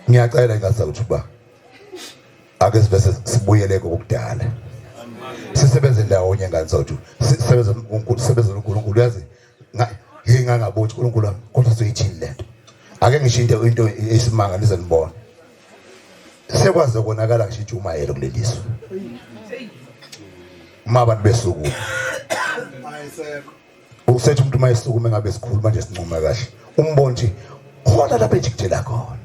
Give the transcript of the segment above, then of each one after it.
ngiyacela ingasa ukuthi uba ake sibe sibuyele kokudala sisebenze ndawonye ngani sawuthi sisebenze uNkulunkulu sisebenze uNkulunkulu yazi ngingangabothi uNkulunkulu wami kodwa soyithini lento ake ngisho into into esimanga nize nibone sekwaze konakala ngisho ijumayelo kuleliso uma abantu besuku Usethi umuntu uma esukume ngabe sikhuluma nje sincuma kahle. Umbone nje khona lapha ejikijela khona.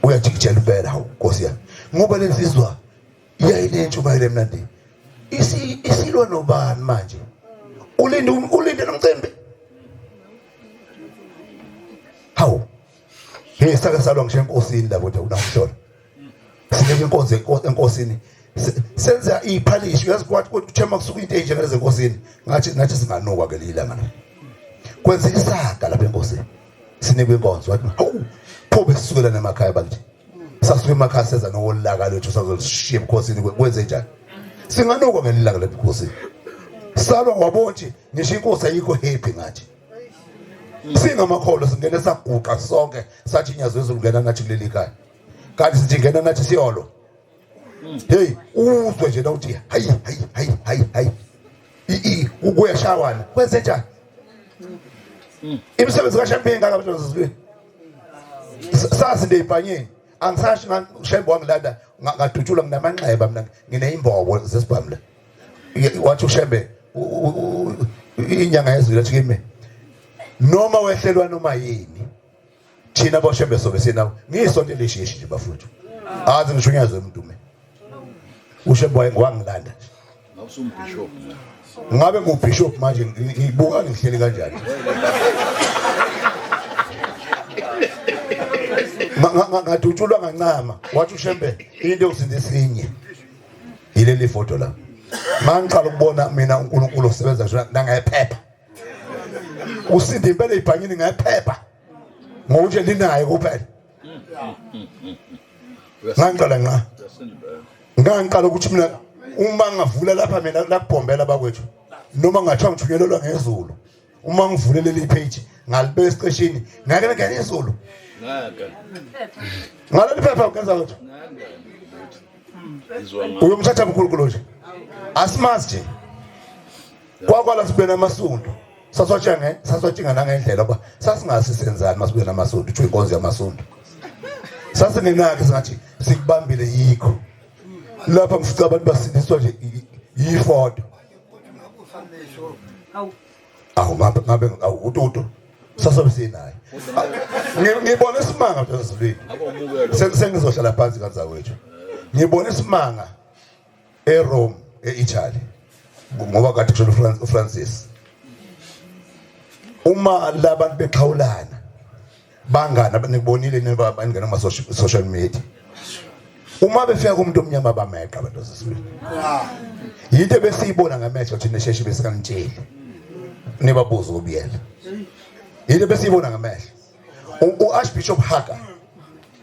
Uyajikijela impela hawu Nkosi yami. Ngoba lensizwa yayinentshumayelo emnandi. Isi isilwa nobani manje? Ulinde ulinde nomcimbi. Hawu Hey sake salwa ngisho enkosini lapho nje unakushona. Sike inkonzo enkosini senza iphalishi uyazi kwathi kuthema kusuka into enje ngale zenkosini ngathi ngathi singanokwa ke lila ngana. Kwenza isaga lapha enkosini. Sinikwe inkonzo wathi hawu pho besukela namakhaya bakithi. Sasuke emakhaya seza nokolaka lethu sazoshiya ebukhosini kwenze njani? Singanokwa ngelilanga lebukhosini. Salwa wabonje ngisho inkosi ayikho happy ngathi. singamakholwa singene saguqa sonke sathi inyazi wezulu ngena nathi kuleli khaya kanti sithi ngena nathi siyolo hey uzwe nje nawuthi hayi hayi hayi hayi hayi i kuyashawana kwenze njani imisebenzi kaShembe ingaka abantu zizweni sazi nje ibhanyeni angisashi ngishembe wangilanda ngadutshulwa nginamanxeba mina ngineyimbobo zesibhamla wathi ushembe inyanga yezulu ethi kimi noma wehlelwa noma yini thina boshembe sobe sinawe ngisonto elishishi nje bafuthu azi ngishunyazwe umuntu mina ushembe wangilanda ngabe ngubishop manje ngibuka ngihleli kanjani ngadutshulwa ngancama wathi ushembe into yokusinda esinye yileli foto la mangiqala ukubona mina uNkulunkulu osebenza njalo nangephepha usindi impela ibhanyini ngephepha ngokuthi linayo kuphela ngangiqala nqa ngangiqala ukuthi mina uma ngavula lapha mina lakubhombela bakwethu noma ngathiwa ngithunyelelwa ngezulu uma ngivule leli page ngalibeka esiqeshini ngake ngene izulu ngaleli phepha ugenza lutho uyomthatha mkhulukulu nje asimazi nje kwakwala sibe namasundu saswatshange saswatshinga nangendlela uba sasingasi senzani masibe namasundu kuthiwa inkonzo yamasundu sasingenakhe singathi sikubambile yikho lapha ngifica abantu basindiswa nje yifodo awu ngabe ngabe awu ututu sasobe sinaye ngibona isimanga mntwana zilwini sengizohlala phansi kanza wethu ngibona isimanga eRome eItaly ngoba kade kusho uFrancis uma labantu bexhawulana bangani abanibonile neba abaningena kuma social media uma befika kumuntu omnyama bameqa abantu sesibili yinto besiyibona ngamehlo thina sheshi besikanitsheli nibabuza ubiyela yinto besiyibona ngamehlo u-archbishop haga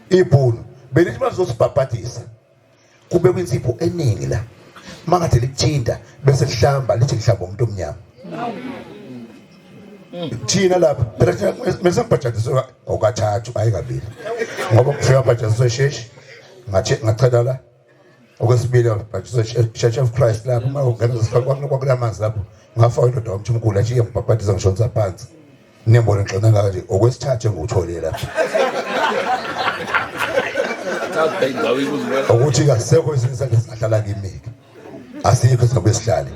ibhunu belithi bazosibhabhadisa kube kwinsipho eningi la mangathi likuthinta bese lihlamba lithi lihlamba umuntu omnyama thina lapha phela thina mese ngibhajadiswe ngokathathu hayi kabili ngoba kufika bhajadiswe sheshi ngathi ngachela la okwesibili bhajadiswe church of christ lapha uma ungena kwakunamanzi lapho ngafa indoda wamthi umkhulu athi iyembhabhadiza ngishonisa phansi Nembona ngixona ngaka nje okwesithathu engiwutholile lapha. Ukuthi kasekho izinto ezingahlala kimi. Asikho izabe sihlale.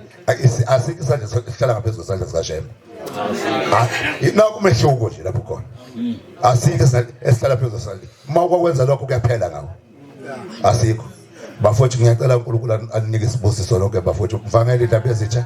Asikho isandla sihlala ngaphezulu kwesandla sikaShembe. Ah, naku umehluko nje lapho khona hmm. asikho esihlala phezulu sali uma kwakwenza lokho kuyaphela ngawo asikho bafowethu ngiyacela uNkulunkulu aninike isibusiso lonke bafowethu mvangele indaba ezitsha